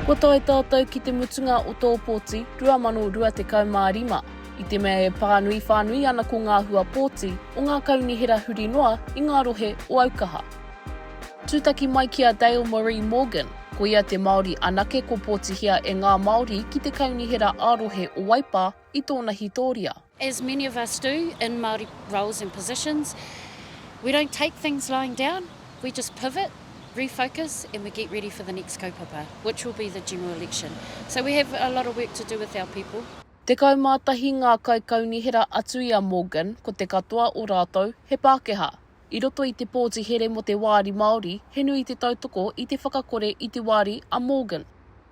Kua tae tātou ki te mutunga o tō pōti 2025. I te mea e pānui whānui ana ko ngā hua pōti o ngā kaunihera huri noa i ngā rohe o Aukaha. Tūtaki mai ki a Dale Marie Morgan, ko ia te Māori anake kopōtihia e ngā Māori ki te Kaunihera ā-Rohe o Waipā i tōna hitōria. As many of us do in Māori roles and positions, we don't take things lying down, we just pivot, refocus and we get ready for the next kaupapa, which will be the general election. So we have a lot of work to do with our people. Tekau mā tahi ngā kaikaunihera atu i a Morgan, ko te katoa o rātou he Pākehā. I roto i te pōti here mō te Wāri Māori, he nui te tautoko i te whakakore i te wāri a Morgan.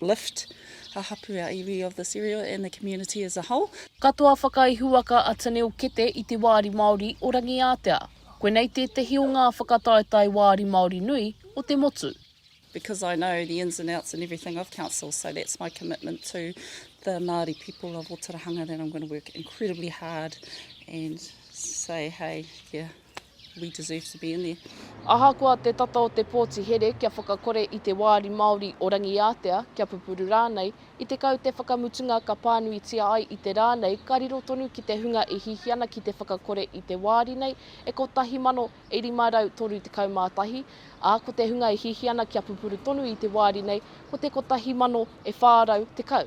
lift a hapu our iwi of this area and the community as a whole. Katoa whakaihuwaka a Tanil Kete i te Wāri Māori o Rangiātea. Koinei tētehi o ngā whakataetae wāri Māori nui o te motu. Because I know the ins and outs and everything of council so that's my commitment to the Māori people of Otirahanga that I'm going to work incredibly hard and say hey yeah. We deserve to be in there. Ahakoa te tata o te pōti here kia whakakore i te wāri Māori o Rangiātea, kia pupuru rānei, i te kau te whakamutunga ka pānuitia ai i te rā nei ka riro tonu ki te hunga e hihi ana ki te whakakore i te wāri nei e 1531, ā, ko te hunga e hihi ana kia pupuru tonu i te wāri nei ko te 1410.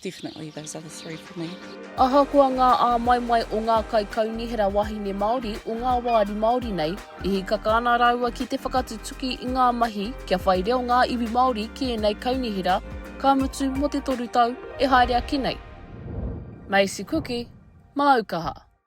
Definitely those other three for me. Ahakoa ngā āmaimai o ngā kaikaunihera wahine Māori o ngā wāri Māori nei, i hikaka ana rāua ki te whakatutuki i ngā mahi kia whai reo ngā iwi Māori ki ēnei kaunihera, ka mutu mō te toru tau e haere ake nei. Maisie Kuki, Māukaha.